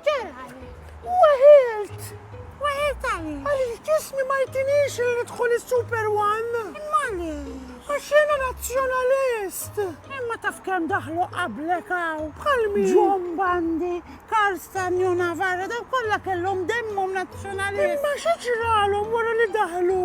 X'ġara għalik? Weħilt! Weħilt għaliex? Għaliex ġismi ma jtinix li nidħol is-Super One. Imma għaliex? Għax jiena nazzjonalist! Imma taf kemm daħlu qablek hawn? Bħal min? John Bandi, Karl Stanley u Navarro daw kollha kellhom demmhom nazzjonalist. Imma xi ġralhom wara li daħlu?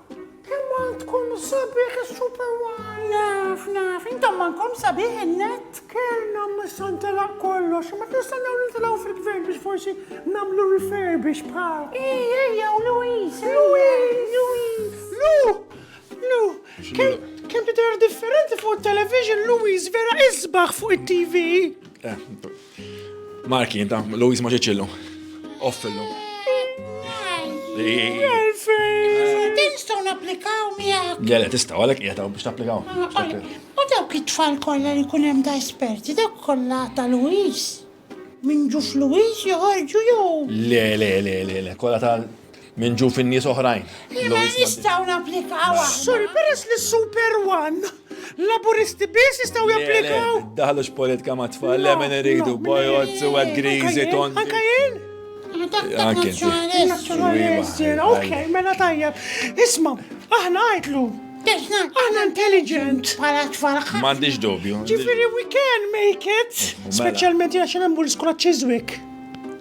Kemm għandkom sabiħ is-Super One! Naf, naf, intom m'għandkom sabiħ in-net! Kellna missa ntelaq kollox, ma nistennew nintilgħu fil-gvern biex forsi nagħmlu refurbish bħal. Ej, ejja, u Louise, Louise, Louise. Lu, Lu, kemm tidher differenti fuq it-television, Louise vera isbaħ fuq it-TV. Eh, Marki, inta, Louise ma ġiċillu. Offillu. Tinstaw naplikaw miegħek. Le, le, tistaw, għalek qiegħed biex tapplikaw. U dawk it-tfal kollha li kun hemm da esperti, dawk kollha ta' Louise. Minn ġuf Louise joħorġu jew. Le, le, le, le, le, kollha ta' Minn ġu fin-nies oħrajn. Liema nistgħu napplikaw. Sorry, peress li super one. Laburisti biss jistgħu japplikaw. Daħlux politika ma' tfal, le minn iridu, bojot, suwed, grizi, ton. Anka jien? Anke Ok, mela tajjeb. Isma, aħna għajtlu. Aħna intelligent. Pala tfarħ. M'għandix dubju. Ġifieri we can make it. Mela. Speċjalment jgħax hemm l-iskola Chiswick.